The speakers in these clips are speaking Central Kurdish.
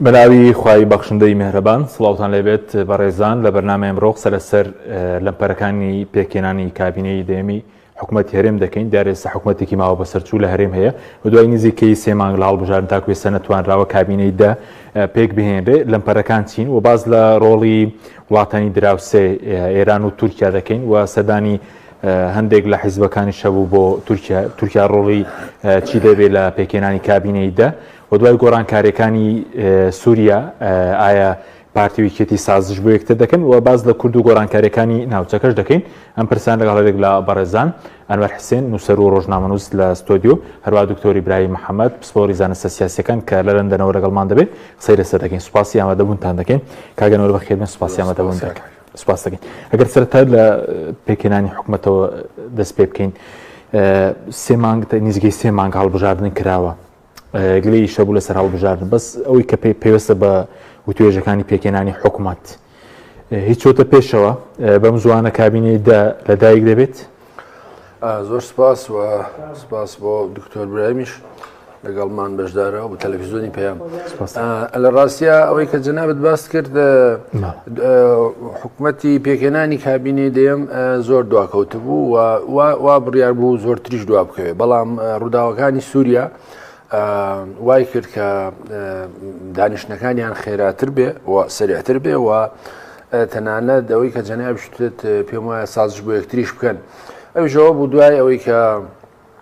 بەناوی خوای بەخشندەی مێهرەبان سڵاوتان لێبێت بەڕێزان لە بەرنامە ئەمڕۆ قسە لەسەر لەمپەرەکانی پێکێنانی کابینەی دەیەمی حکوومەت هەرێم دەکەین دارێستا حکوومەتێکی ماوە بەسەرچوو لە هەرێم هەیە و دوای نزیکەی سێ مانگ لە هەڵبژارن تا کوێسە نەتوانراوە کابینەی دە پێک بهێنرێ لەمپەرەکان چین و باز لە ڕۆڵی وڵاتانی دراوسێ ئێران و تورکیا دەکەین و سەدانی هەندێک لە حیزبەکانی شەبوو بۆ تورکیا ڕۆڵی چی دەبێت لە پێکێنانی کابینەی دە وە دوای گۆڕانکارێکانی سوریا ئایا پارتی و یەکێتی سازش بۆ یەکتر دەکەن و باز لە کورد و گۆرانکارەکانی ناوچەکەش دەکەین ئەم پرسان لەگەڵ هەرێک لە بەڕێزان ئەنوەر حسێن نووسەر و ڕۆژنامەنووس لە ستۆدیو هەروە دکتۆری برای محەممەد پسپۆری زانستە سیاسەکان کە لە لەندەنەوە لەگەڵمان دەبێت قسەی لەسەر دەکەین سوپاسی ئامادەبوونتان دەکەین کاگەنەوە بەخێر من سوپاسی ئامادەبوون دەکەن سوپاس دەکەین ئەگەر سەرتا لە پێکێنانی حکوومەتەوە دەست پێ بکەین سێ مانگ نزیگەی سێ مانگ هەڵبژاردن کراوە گلەی ئیش هەبوو لەسەر هەڵبژاردن بەس ئەوەی کە پێوەستە بە وتوێژەکانی پێکێنانی حکومەت هیچۆتە پێشەوە بەم زوانە کابینەی دا لەدایک دەبێت زۆر سپاس و سپاس بۆ دکتۆر برایمیش لەگەڵمان بەشدارە بە تەلەڤزیۆنی پێیان لە ڕاستە ئەوەی کە جەنابەت باست کرد حکومەتی پێکهێنانی کابینەی دەیەم زۆر دواکەوت بوو و وا بڕیار بوو زۆرتریش دوا بکەوێت بەڵام ڕووداوەکانی سووریا وای کرد کە دانیشتەکانیان خێراتر بێ و سریعتر بێ و تەنانە دەوەی کە جەنابشتێت پێم وایە سازش بۆ یەکتریش بکەن ئەوژەوە بوو دوای ئەوەی کە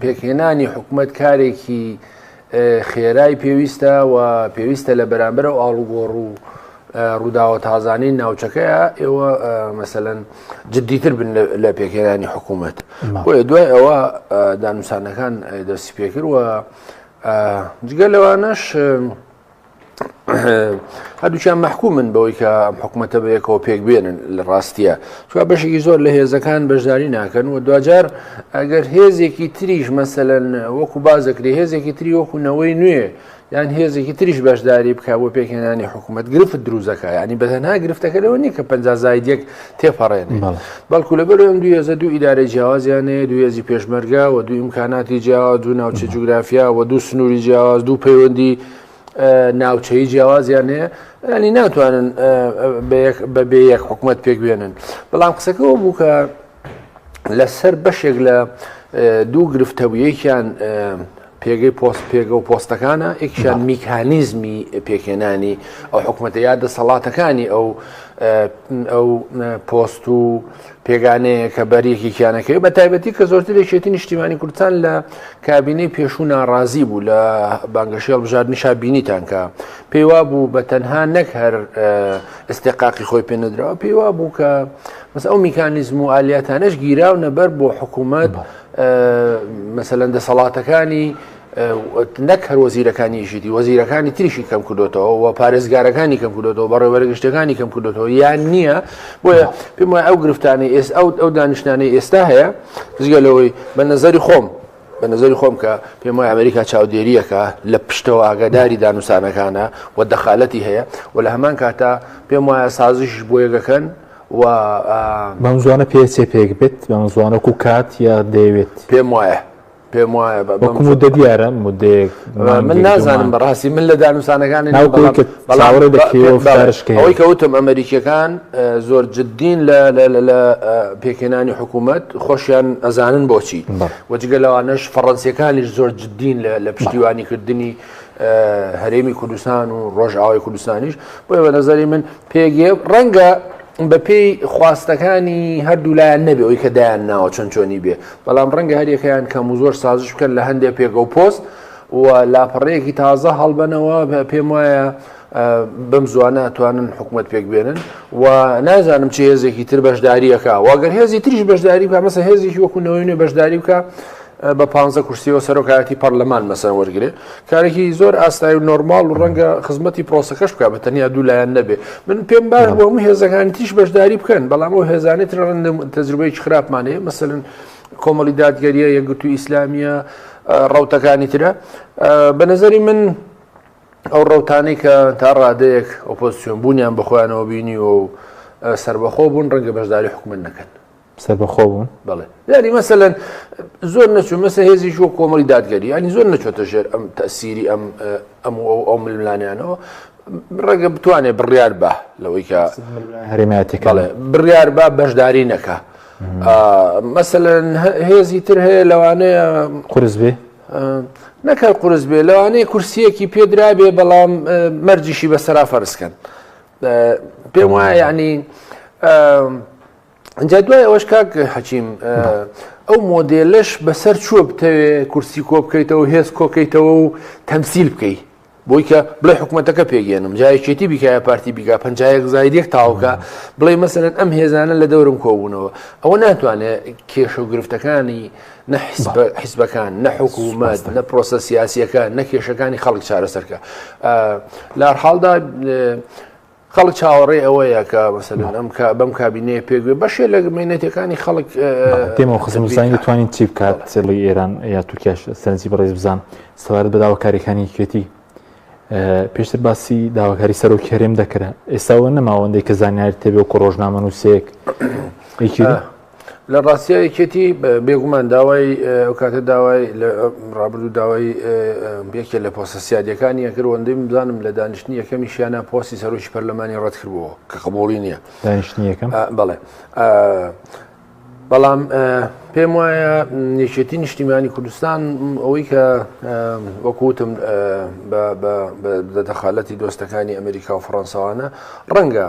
پێکهێنانی حکومەت کارێکی خێرای پێویستە و پێویستە لە بەرامبەر و ئاڵوگۆڕ و ڕووداوە تازانەی ناوچەکەیە ئێوە مەسەەن جددیتر بن لە پێکهێنانی حکوومەت بۆیە دوای ئەوە دانوسانەکان دەستی پێکرد و جگە لەوانەش هەردووچیان مەحکومن بەوەی کە ئەم حکوومەتە بەیەکەوە پێک بێنن لە ڕاستیە چ بەشێکی زۆر لە هێزەکان بەشداری ناکەن و دوجار ئەگەر هێزێکی تریش مەسەن وەکو بازەکری هێزێکی تری وەکو نەوەی نوێ یان هێزێکی تریش بەشداری بک بۆ پێکهێنانی حکوومەت گرفت دروزەکە ینی بەتەنها گرفتەکە لەوە نیە کە پزایدێک تێپەڕێنێ بەڵکو لە بەرەوەم دوو هێزە دوو ئیدارە جیاوازیانەیە دوو هێزی پێشمەرگا و دوو ئیمکاناتی جیاواز دوو ناوچە جوگرافیا و دوو سنووری جیاواز دوو پەیوەندی ناوچەی جیاوازیان هەیە ینی ناتوانن بە بێ یەک حکوومەت پێک بێنن بەڵام قسەکەەوە بوو کە لەسەر بەشێک لە دوو گرفتەبوویەکیان پێگەی پۆست پێگە و پۆستەکانە ئێکشان میکانیزمی پێکێنانی ئەو حکوومەتە یا دەسەڵاتەکانی ئەو ئەو پۆست و پێگانەیە کە بەریەکی کیانەکەی بە تایبەتی کە زۆرتر لەشێتی نیشتیمانی کوردستان لە کابینەی پێشوو ناڕازی بوو لە بانگەشێڵ بژار نیشا بینیتانکە پێیوا بوو بە تەنها نەک هەر ئستێقاقی خۆی پێ نەدراوە پێیوا بوو کە مەس ئەو میکانیزم و ئالیاتانش گیراونە بەر بۆ حکوومەت بە مەسەلەن دەسەڵاتەکانی نەک هەر وەزیرەکانی ژیدی وەزیرەکانی تریشی کەم کردوێتەوە و پارێزگارەکانی کەم کردوێتەوە بە ڕێوەرگشتەکانی کەم کردوێتەوە یان نییە بۆیە پێم وای ئەو گرفتانی ئێس ئەو ئەو دانیشتانەی ئێستا هەیە زگە لەوەی بە نظری خۆم بە نظری خۆم کە پێم وای ئەمریکا چاودێریەکە لە پشتەوە ئاگاداری دانوسانەکانە و دەخالەتی هەیە و لە هەمان کاتا پێم وایە سازش بۆیەگەکەن و. بەم زووانە پێچێ پێک بێت بەم زووانە وەکو کات یا دەیەوێت. پێم وایە پێم وایە بە بەم مدە دیارە مدێک من نازانم بەڕاستی من لە دانوسانەکانی بەڵاوەڕێ دەکەوەشکە ئەوەی کەوتم ئەمریکیەکان زۆر جددین لە پێکێنانی حکوومەت خۆشیان ئەزانن بۆچی وەجگە لەوانش فەڕەنسیەکانیش زۆر جددین لە پشتیوانی کردنی هەرێمی کوردستان و ڕۆژئاوای کوردستانیش بۆیە بە نظری من پێگێ ڕەنگە بە پێی خواستەکانی هەردوولایەن نەبێ ئەوی کە دایان ناوە چەند چۆنی بێ بەڵام ڕەنگە هەریەکەیان کەم و زۆر سازش بکەن لە هەندێک پێگە و پۆست و لاپەڕەیەکی تازە هەڵبەنەوە پێم وایە بەم زوانە ئەتوانن حکومت پێک بێنن و نازانم چ هێزێکی تر بەشداریەکە واگەر هێزی تریش بەشداری بکە مەسە هێزیی وەکوونەوەی نوێ بەشداری بکە بە پ کورسیەوە سەرۆکایەتی پەرلەمان مەسەر وەرگێ کارێکی زۆر ئاسایی و نۆرمال و ڕەنگە خزمەتی پرۆسەکەش بکە بە تەنیا دوو لایەن نەبێ من پێم باش بۆ هەموو هێزەکانی تیش بەشداری بکەن بەڵام ئەو هێزانێت تەجروبەیەکی خراپمانەیە مەسەن کۆمەڵی دادگەریە یەکگرتو ئیسلامیە ڕوتەکانی ترە بە نظری من ئەو ڕەوتانەی کە تا ڕادەیەک ئۆپۆزسیۆن بوونیان بە خۆیانەوە بینیوە و سربەخۆ بوون ڕەنگە بەشداری حکومت نەکەن سربەخۆ بوون بڵێ یاری مەسەەن زۆر نەچوو مەسە هێزی شو کۆمەڵی دادگەری ینی زۆر نەچۆتە ژێر ئەم تەسیری ئەم ئەم و ئەو ململانیانەوە ڕەگە بتوانێت بڕیار بە لەوەی کە هەرێماتی کاڵێ بڕیار با بەشداری نەکە مەسەەن هێزی تر هەیە لەوانەیە قرس بێ نەک هەر قورس بێ لەوانەیە کورسیەکی پێدرابێ بەڵام مەرجیشی بە سەرا فەرزکەن پێم وایە ینی ئەجا دوای ئەوەش کاک حەچیم ئەو مۆدێلش بەسەر چووە بتەوێ کورسی کۆ بکەیتەوە هێز کۆکەیتەوە و تەمسیل بکەیت بۆی کە بڵێ حکوومەتەکە پێگەێنم جا یەکێتی بیکایە پارتی بیگا پ زاید یەک تاوکە بڵێ مەسەرەن ئەم هێزانە لە دەورم کۆبوونەوە ئەوە ناتوانێت کێشە و گرفتەکانی نە حیزبەکان نە حکوومەت نە پرۆسە سیاسیەکە نە کێشەکانی خەڵک چارەسەرکە لە حاڵدا خەڵک چاوەڕێی ئەوەیە کە مەسەلەن ئەم بەم کابینەیە پێگوێ بەشێ لە مێنێتەکانی خەڵک تێمە خزمزانانی توانین چی بکات سێڵی ئێران یا تورکیاش سەرنجی بەڕێز بزان سەبارەت بە داواکاریەکانی یەکێتی پێشتر باسی داواکاری سەرۆک هەرێم دەکرا ئێستاوە نەماوەندەی کە زانیاری تێبێ و کۆ ڕۆژنامە نووسێک لە ڕاستیا یەکێتی بێگومان داوای ئەو کاتە داوای ڕابردوو داوای یەکێ لە پۆسە سیادەکانی یەکرد وەندەی بزانم لە دانیشتنی یەکەمی شیانە پۆستی سەرۆکی پەرلەمانی ڕەتکردەوە کە قبوڵی نییە دانیشتنی یەکەم بڵێ بەڵام پێم وایە یەکێتی نیشتیمانی کوردستان ئەوەی کە وەکوتم بە دەخالەتی دۆستەکانی ئەمریکا و فڕەنساوانە ڕەنگە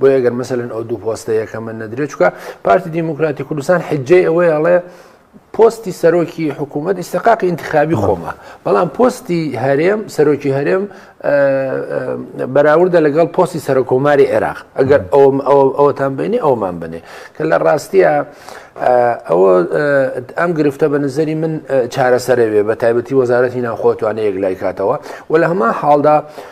بۆیە گەر مەسەن ئەو دوو پۆستە یەکەمە نەدرێت چکە پارتی دیموکراتی کوردستان حجەی ئەوەی ئەڵێ پۆستی سەرۆکی حکوومەت ئیسقاقی انتخابی خۆمە بەڵام پۆستی هەرێم سەرۆکی هەرێم بەراوردە لەگەڵ پۆستی سەرۆکۆماری عێراق ئەگەر ئەوەتان بینی ئەومان بنێ کە لە ڕاستیە ئەوە ئەم گرفتە بە نزەری من چارەسەرەوێ بە تایبەتی وەزارەتی ناوخۆتوانێ یەک لای کاتەوە و لە هەما حاڵدا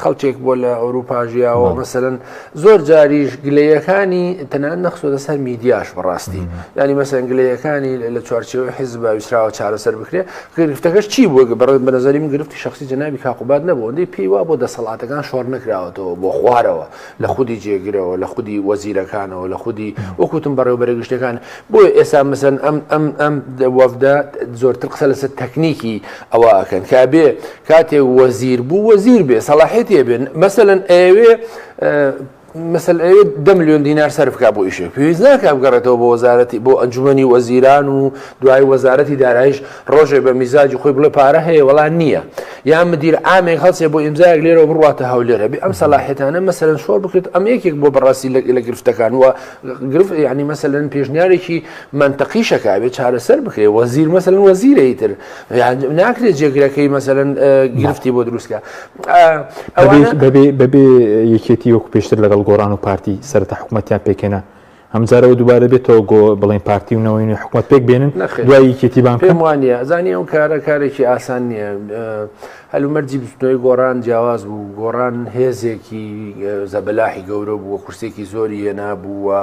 خەڵکێک بووە لە ئەوروپا ژیاوە بەڵێ. مەسەرەن زۆر جاریش گلەیەکانی تەنان نەخسۆتە سەر میدیاش بەڕاستی ینی مەسەن گلەیەکانی لە- لە چوارچێوەی حیزب ویسراوە چارەسەر بکرێ گرفتەکەش چی بووە گە- بەڕێز بە نەزەری من گرفتی شەخسی جەنابی کاک قوباد نەبوو ئەوەندەی پێی وابوو دەسەڵاتەکان شۆڕ نەکراوەتەوە بۆ خوارەوە لە خودی جێگرەوە لە خودی وەزیرەکانەوە لە خودی وەک وتم بەڕێوەبەرە گشتیەکان بۆیە ئێستا مەسەن ئەم ئەم ئەم دە وەڤدە زۆرتر قسە لەسەر تەکنیکی ئەوە ئەکەن کە ئەبێ کاتێک وەزیر بوو وەزیر بێ سەڵاحێتی هەبێت مەسەەن ئەوێ مەسل ئەوێت دە میلیۆن دینار سەرفکە بۆ ئیشێک پێویست ناکە بگەڕێتەوە بۆ وەزارەتی بۆ ئەنجومی وەزیران و دوای وەزارەتی دارایش ڕۆژێ بە میزاجی خۆی بڵێ پارە هەیە وەڵان نییە یا مدیر ئامێک هەڵچێ بۆ ئیمزایەک لێرەوە بڕاتە هەولێرە بێ ئەم سەلاحێتانە مەسەرەن شۆر بکرێت ئەم یەکێک بۆ بەڕاستی لە گرفتەکان وە گرفت ینی مەسەن پێشنیارێکی منتەقیشەکە بێ چارەسەر بکرێ وەزیر مەسەن وەزیرەی تر ناکرێت جێگرەکەی مەسەرەن گرفتی بۆ دروستکە بەبێ یەکێتی وەکو پێشتر لەگەڵ گۆران و پارتی سەرتا حکوومەتیان پێکێنا هەمجارەوە دووبارە بێتەوە گۆ بڵێن پارتی و نەوەین حکوومەت پێک بێنن دوای یەکێتی بان پێم وانە زانانی ئەو کارە کارێکی ئاسان نییە هەلومەرجی بستنەوەی گۆڕان جیاواز بوو گۆڕان هێزێکی زەبلاحی گەورە بووە قورسێکی زۆری هێنا بووە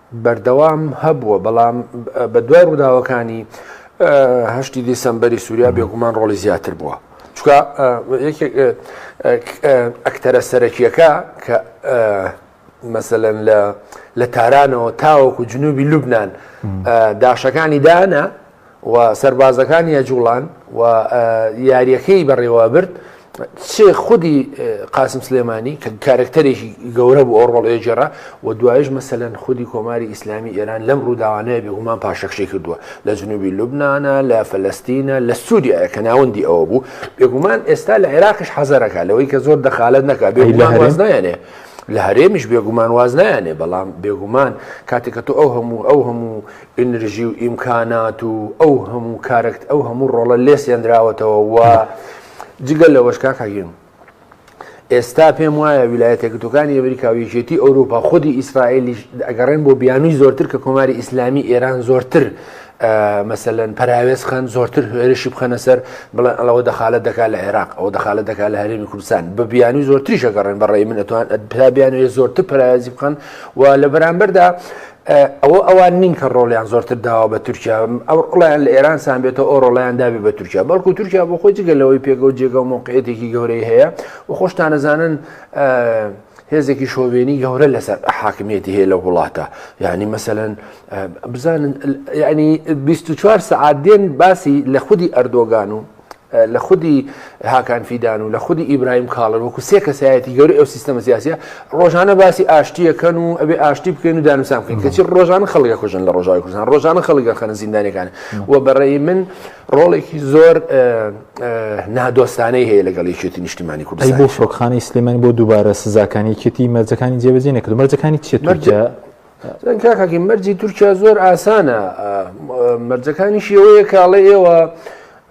بەردەوام هەبووە، بەڵام بە دوای ڕووداوەکانی هەشتی دیسەمبەری سووریا بێگومان ڕۆڵی زیاتر بووە. چونکە یەکێک ئەکتەرە سەرەکیەکە کە مەسەلەن لە تارانەوە تاوەکو جنوبی لوبنان داشەکانی دانا، و سەربازەکانی ئەجوڵان و یاریەکەی بەڕێوابرد چ خودی قاسم سلێمانی کە کارکتەرێکی گەورە بوو ئەوڕۆڵ ئێجێرا و دوایش مەسەەن خودی کۆماری ئیسلامی ئێران لەم ڕووداوانەیە بێگومان پاشەکشی کردووە لە جنوبی لوبناە لە فلستینە لە سووریا کە ناوەندی ئەوە بوو بێگومان ئێستا لە عێراقش حەزەرەکە لەوەی کە زۆر دەخالت نەکە بێ لە هەرێزدایانێ. لە هەرێمیش بێگومان واز نایانێ بەڵام بێگومان کاتێکە تۆ ئەو هەموو ئەو هەموو ئینرژی و ئیمکانات و ئەو هەموو کارەکت ئەو هەموو ڕۆڵە لێ سێنراوەتەوە و جگەل لە وەشکا کاگەیم ئێستا پێم وایە ویلایەتە گرتوەکانی ئەمریکا و یەکێتی ئەوروپا خودی ئیسرائیلی ئەگەڕێن بۆ بیانوی زۆرتر کە کۆماری ئیسلامی ئێران زۆرتر مەسەن پەراوێز خان زۆرتر هێرشی بخەنە سەر بڵێن ئەڵەوە دەخالت دەکا لە عێراق ئەو دەخالت دەکا لە هەرێمی کوردستان بە بیانوی زۆرتریشەگەڕێن بەڕێ من ئەتوان پلا بیانوێ زۆرتر پەراوێزی بخەن و لە بەرامبەردا ئەوە ئەوان نین کە ڕۆڵیان زۆرتر داوە بە تورکیا ئەو ڕۆڵیان لە ئێران سانبێتەوە ئەو ڕۆڵیان دابێ بە تورکیا بەڵکو تورکیا بۆ خۆی جگە لەوەی پێگە و جێگە و مۆقعەتێکی گەورەی هەیە و خۆشتانەزانن هێزێکی شۆڤێنی گەورە لەسەر حاکمیەتی هەیە لە وڵاتە یعنی مەسەن بزانن ینی 24 سعات دێن باسی لە خودی ئەردۆگان و لە خودی هاکان فیدان و لە خودی ئیبراهیم کاڵن وەکو سێ کەسایەتی گەوری ئەو سیستەمە سیاسە ڕۆژانە باسی ئاشتیەکەن و ئەبێ ئاشتی بکەین و دانوسان بکەین کەچی ڕۆژانە خەڵگە کوژن لە ڕۆژاوی کوردستان ڕۆژانە خەڵگە خەنە زیندانەکان و بەڕێی من ڕۆڵێکی زۆر نادۆستانەی هەیە لەگەڵ یەکێتی نیشتیمانی کوردی بۆ فڕۆکخانەی سلێمانی بۆ دووبارە سزاکانی یەکێتی مەرجەکانی جێبەجێ نەکرد مەرجەکانی چێت مەرجە دەنگ کاکاکی مەرجی تورکیا زۆر ئاسانە مەرجەکانی شێوەیە کاڵێ ئێوە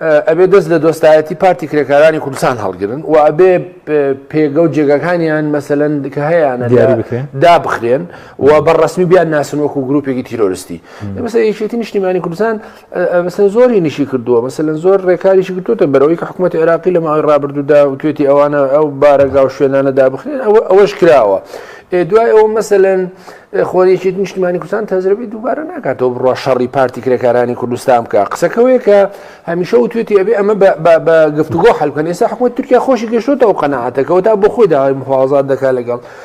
ئەبێ دەست لە دۆستایەتی پارتی کرێکارانی کوردستان هەڵگرن و ئەبێ پێگە و جێگەکانیان مەسەەن کە هەیەیانە دابخرێن و بە ڕسمی بیان ناسن وەکو گرروپێکی تیرۆرستی مەسە یەکێتی نیشتیمانی کوردستان مەسەلەن زۆری نیشی کردووە مەسەلەن زۆر ڕێکاریشی گرتوتە بەرەوەی کە حکوومەت عێراقی لە ماوەی ڕابردوودا و توێتی ئەوانە ئەو بارەگا و شوێنانە دابخرێن ئەوە ئەوەش کراوە دوای ئەوە مەسەلەن خۆریەکی نیشتمانی کوردستان تەزرەبی دووبارە ناکاتەوە بڕە شەڕی پارتی کرێکارانی کوردستان بکە قسەکەوەیە کە هەمیشە و توێتی ئەبێ ئەمە بە گفتوگۆ حلکەن ئێستا حکوومەت تورکیا خۆشی گەشتوتە و قەنەعاتەکەەوە تا بۆ خۆی داوای مخوازات دەکات لەگەڵ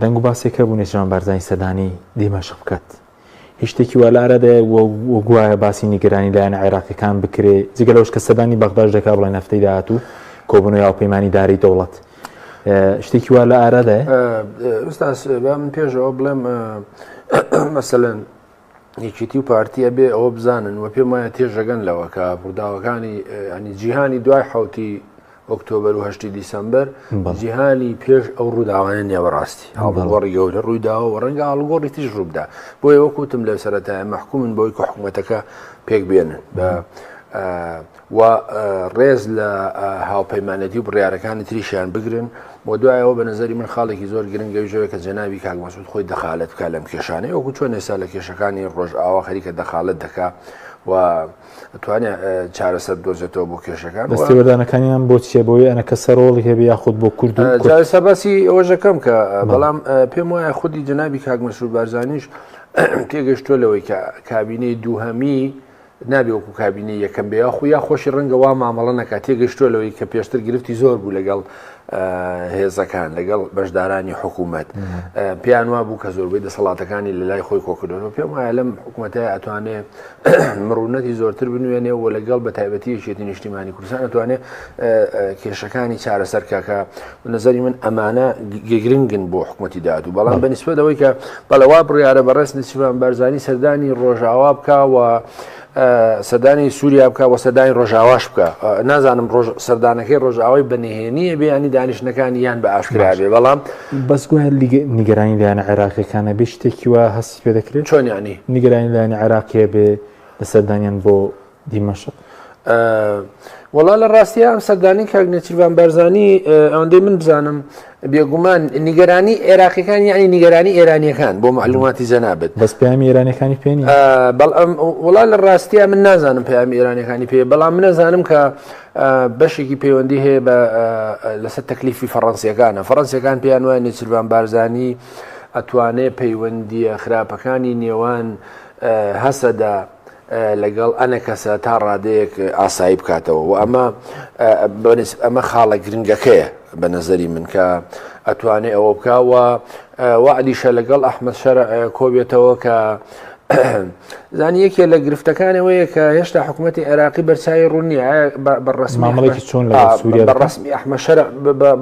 دەنگ و باسێک هەبوو نێچیران بارزانی سەردانی دیمەشق بکات هیچ شتێکی وا لە ئارادایە و گوایە باسی نیگەرانی لایەنە عێراقیەکان بکرێ جگە لەوەش کە سەردانی بەغداش دەکا بڵێ نەفتەی داهاتوو کۆبوونەوەی هاوپەیمانی دارەی دەوڵەت شتێکی وا لە ئارادایە ئستاس با من پێشەوە بڵێم مەسەلەن یەکێتی و پارتی ئەبێ ئەوە بزانن و پێم وایە تێژەگەن لەوە کە ڕووداوەکانی ئەنی جیهانی دوای حوتی ئۆکتۆبر و هەشتی دیسمبر جیهانی پێش ئەو ڕووداوانە نێوەڕاستی هاڵگۆڕی گەورە ڕوویداوە و ڕەنگە هاڵگۆڕی تیژ ڕووبدا بۆ ئێوە کوتم لە سەرەتای مەحکومن بۆی کە حکوومەتەکە پێک بێنن بە و ڕێز لە هاوپەیمانێتی و بڕیارەکانی تریشیان بگرن و دوایەوە بە نظری من خاڵێکی زۆر گرنگەوی جۆرە کە جەناوی کاک مەسود خۆی دەخالت بکە لەم کێشانەی وەکو چۆن ئێستا لە کێشەکانی ڕۆژ ئاوا خەریکە دەخالت دەکا و توانێت چارەسەر دۆزێتەوە بۆ کێشەکان دەستێوەدانەکانیان بۆ چیە بۆی ئەە کە سەرۆڵی هەبێ یاخود بۆ کورد سەباسی ئەوژەکەم کە بەڵام پێم وایە خودی جەنابی کاک مەسود بارزانیش تێگەشتوە لەوەی کە کابینەی دووهەمی نابێ وەکو کابینەی یەکەم بێ یاخو یا خۆشی ڕەنگە وا مامەڵە نەکات تێگەشتووە لەوەی کە پێشتر گرفتی زۆر بوو لەگەڵ هێزەکان لەگەڵ بەشدارانی حکوومەت پێیان وا بوو کە زۆربەی دەسەڵاتەکانی لە لای خۆی کۆکردنەوە پێم وایە لەم حکوومەتە ئەتوانێ مڕونەتی زۆرتر بنوێنێ و لەگەڵ بە تایبەتی یەکێتی نیشتیمانی کوردستان ئەتوانێ کێشەکانی چارەسەرکەکە بە نەزەری من ئەمانە گرنگن بۆ حکوومەتتی داهاتوو بەڵام بە نسبەت ئەوەی کە بەڵەوا بڕیاە بە ڕێز نسیبان بەرزانی سەردانی ڕۆژاوا بکە و سەدانی سووریا بکە وە سەدانی ڕۆژاواش بکە نازانم ڕۆژ سەردانەکەی ڕۆژاوای بەنهێنیە بیانی دانیشتەکانی یان بە ئاشکرابێ بەڵام بەسگوهر نیگەرانی لایەنە عێراقیەکانە بێ شتێکی وە هەستی پێ دەکرێت چۆنیانی نیگەرانی لایەنە عێراقیە بێ لە سەردانیان بۆ دیمەشق وەڵا لە ڕاستیە ئەم سەردانی کاک نێچیرڤان بارزانانی ئەوەندەی من بزانم بێگومان نیگەرانی عێراقیەکان یعنی نیگەرانی ئێرانیەکان بۆ معلوماتی جەنابێت بەس پامی ئێرانەکانی پێێنی بەڵ وڵا لە ڕاستیە من نازانم پامی ئێرانەکانی پێ بەڵام منەزانم کە بەشێکی پەیوەندی هەیە بە لەسەر تەکلیفی فەڕەنسیەکانە فەڕەنسیەکان پێیان وایە نێچیرڤان بارزانانی ئەتوانێ پەیوەندیە خراپەکانی نێوان هەسەدا لەگەڵ ئەنەکەسە تا ڕادەیەک ئاسایی بکاتەوە و ئەمە ئەمە خاڵە گرنگەکەیە بە نەزەری من کە ئەتوانێ ئەوە بکەوە وعدیشە لەگەڵ ئەحمد شەر کۆبێتەوە کە زانی یەکێ لە گرفتەکانەوەیە کە هێشتا حکوومەتتی عێراقی بەرچوی ڕوونیە بەڕسمامەڵێکی چۆن لە سووریا بەڕسمی ئەحمەشەر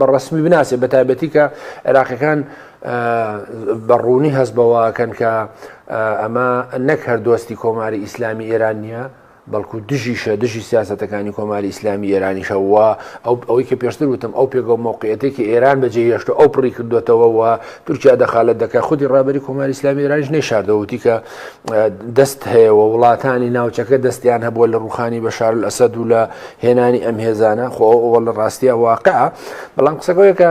بەڕسمی بناسێ بە تایبەتی کە عێراقەکان بە ڕوونی هەست بەوەکەن کە ئەمە نەک هەر دۆستی کۆماری ئیسلامی ئێران نییە، بەڵکو دژیشە دژی سیاستەکانی کۆماری ئیسلامی ئێرانیشە و ئەو ئەوەی کە پێشتر وتم ئەو پێگە و مۆقعەتی کە ئێران بەجێ هێشتە ئەو پڕی کردوێتەوە و تورکیا دەخالت دەکە خودی ڕابری کۆماری ئسلامی ئێرانش نەیشاردەوتی کە دەست هەیە و وڵاتانی ناوچەکە دەستیان هەبووە لە ڕوخانی بە شار ئەسەد و لە هێنانی ئەم هێزانە خۆ ئەوە لە ڕاستیە واقع بەڵام قسەگەوەیەکە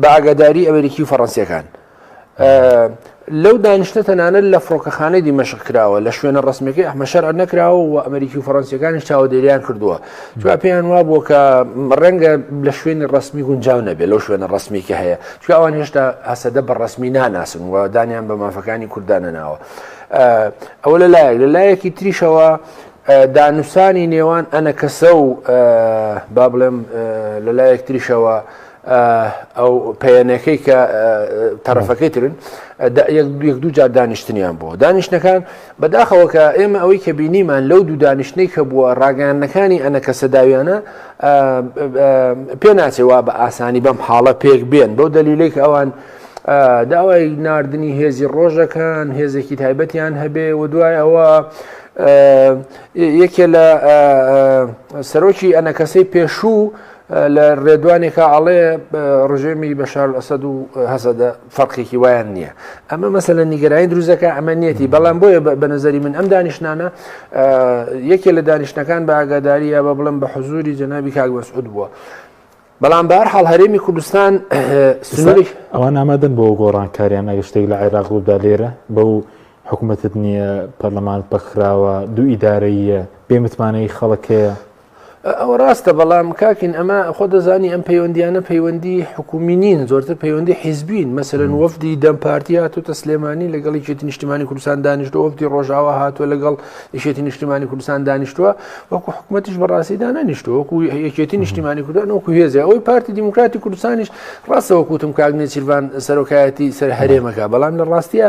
بە ئاگاداری ئەمریکی و فەڕەنسییەکان. لەو دانیشتە تەنانەت لە فڕۆکەخانەی دیمەشق کراوە لە شوێنە ڕسمەکەی ئەحمە شەرع نەکراوە و ئەمریکی و فەرەنسیەکانیش چاوەدێریان کردووە چا پێیان وا بووە کە ڕەنگە لە شوێنی ڕسمی گونجاو نەبێت لەو شوێنە ڕسمی کە هەیە چ ئەوان هێشتا هەسەدە بە ڕسمی ناناسن و دانیان بە مافەکانی کوردانە ناوە ئەوە لە لایەک لە لایەکی تریشەوە دانوسانی نێوان ئەنە کەسە و با بڵێم لە لایەک تریشەوە ئەو پەیەنەکەی کە تەرەفەکەی ترن یەک دوو جار دانیشتنیان بۆ دانیشتەکان بەداخەوە کە ئێمە ئەوەی کە بینیمان لەو دوو دانیشتەی کە بووە ڕاگەیانەکانی ئەنە کە سەداویانە پێ ناچێوا بە ئاسانی بەم حاڵە پێک بێن بەو دەلیلێک ئەوان داوای نردنی هێزی ڕۆژەکان هێزێکی تایبەتیان هەبێ و دوای ئەوە یەکێ لە سەرۆکی ئەنەکەسەی پێشوو لە ڕێدوانێکا ئەڵێ ڕژێمی بەشار ئەسەد و هەسەدە فەرقێکی وایان نییە ئەمە مەسە لە نیگەرانی دروزەکە ئەمە نیەتی بەڵام بۆیە بە نظری من ئەم دانیشتانە یەکێ لە دانیشتەکان بە ئاگاداریە بە بڵم بە حزوری جەنابی کاک مەسعود بووە. بەڵام بار حاڵ هەرێمی کوردستان سنووری ئەوان ئامادەن بۆ گۆڕانکاریان ئەگە شتێک لە عێراق بوودا لێرە بەو حکوومەتت نییە پەرلەمانت بەخراوە دوو ئیدارەیە بێمتمانەی خەڵکەیە ئەوە ڕاستە بەڵام کاکین ئەمە خۆ دەزانی ئەم پەیوەندیانە پەیوەندی حکومی نین زۆرتر پەیوەندی حیزبین مەسەرن وەفدی دەم پارتی هاتوتە سلێمانی لەگەڵ یەکێتی نیشتمانی کوردستان دانیشتو وەفدی ڕۆژاوا هاتووە لەگەڵ یشێتی نیشتمانی کوردستان دانیشتووە وەکو حکوومەتیش بەڕاستی دانانیشتو وەکو یەکێتی نیشتمانی کوردان وەکو هێزە ئەوی پارتی دیموکراتی کوردستانیش ڕاستەوە کوتم کاگنێ سیرڤان سەرۆکایەتی سەر هەرێمەکە بەڵام لە ڕاستە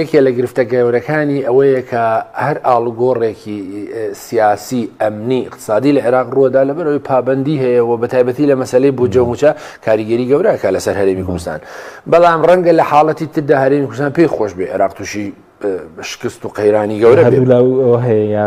یەکێ لە گرفتە گەورەکانی ئەوەیە کە هەر ئاڵوگۆڕێکی سیاسی ئەمنی اقتصادی لە عێراق ڕووەدا لە بەرەوەی پابندی هەیە و بە تایبەتی لە مەسلەی بۆ جەموچە کاریگەری گەورەکە لەسەر هەرێمی کوردستان بەڵام ڕەنگە لە حاڵەتی تردا هەرێمی کوردستان پێی خۆش بێ عێراق تووشی شکست و قەیرانی گەورە هەیە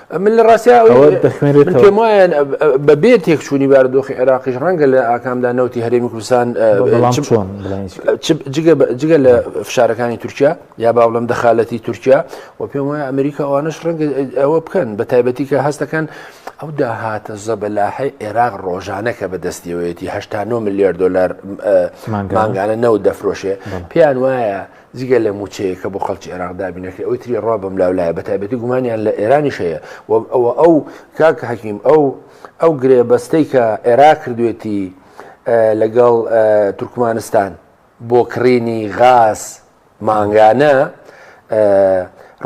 من لە ڕاستیا من پێم وایە بە بێ تێکچوونی باردۆخی عێراقیش ڕەنگە لە ئاکامدا نەوتی هەرێمی کوردستان جگە لە فشارەکانی تورکیا یا با بڵم دەخالەتی تورکیا و پێم وایە ئەمریکا ئەوانش ڕەنگە ئەوە بکەن بە تایبەتی کە هەستەکەن ئەو داهاتە زەبەلاحی عێراق ڕۆژانە کە بەدەستیەوەیەتی 89 ملیار دلار مانگانە نەوت دەفرۆشێ پێیان وایە جگە لە موچەیەک کە بۆ خەڵکی عێراق دابین نەکرێت ئەوی تری ڕا بەم لاو لایە بەتایبەتی گومانیان لە ئێرانیش هەیە ئەوە ئەو کاک حەکیم ئەو ئەو گرێبەستەی کە عێراق کردوێتی لەگەڵ تورکمانستان بۆ کڕینی غاز مانگانە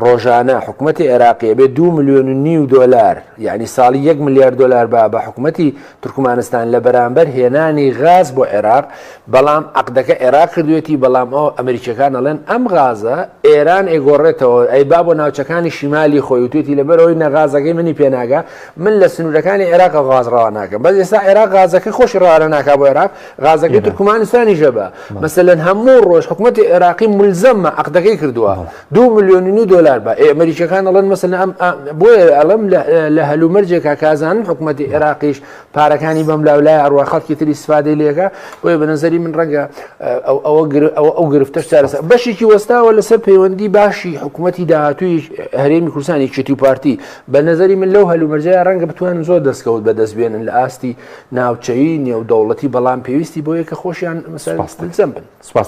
ڕۆژانە حکومەتی عێراقی ئەبێ دوو ملیۆن و نیو دۆلار یعنی ساڵی یەک ملیار دۆلار با بە حکومەتی تورکمانستان لە بەرامبەر هێنانی غاز بۆ عێراق بەڵام عقدەکە عێراق کردوێتی بەڵام ئەو ئەمریکیەکان ئەڵێن ئەم غازە ئێران ئەیگۆڕێتەوە ئەی با بۆ ناوچەکانی شیمالی خۆی وتێتی لەبەرەوەی نەغازەکەی منی پێناگە من لە سنوورەکانی عێراق غاز ڕەوا ناکەم بەس ئێستا عێراق غازەکە خۆشی ڕوانە ناکا بۆ عێراق غازەکەی تورکمانستانی ژەبە مەسەن هەموو ڕۆژ حکوومەتی عێراقی ملزەممە عقدەکەی کردووە دو ملیۆن و نو دلار بە ئەمریکەکان ئەڵەن مەسن ئەم بۆیە ئەڵم لە هەلومەرجێکا کازانن حکوومەتتی عێراقیش پارەکانی بەم لاولای ئەڕوا خەڵکی تری سفادەی لێگە بۆیە بە نظری من ڕەنگە ئەوە ئەو گرفتەش چارەسە بەشێکی وەستاوە لەسەر پەیوەندی باشی حکوومەتتی داهاتوی هەرێمی کورسانی چتی و پارتی بە نظری من لەو هەلومەرجە ڕەنگە بتوان زۆر دەستکەوت بە دەست بێنن لە ئاستی ناوچەیی نێو دەوڵەتی بەڵام پێویستی بۆ یەکە خۆشیان مەسەر بن سپاس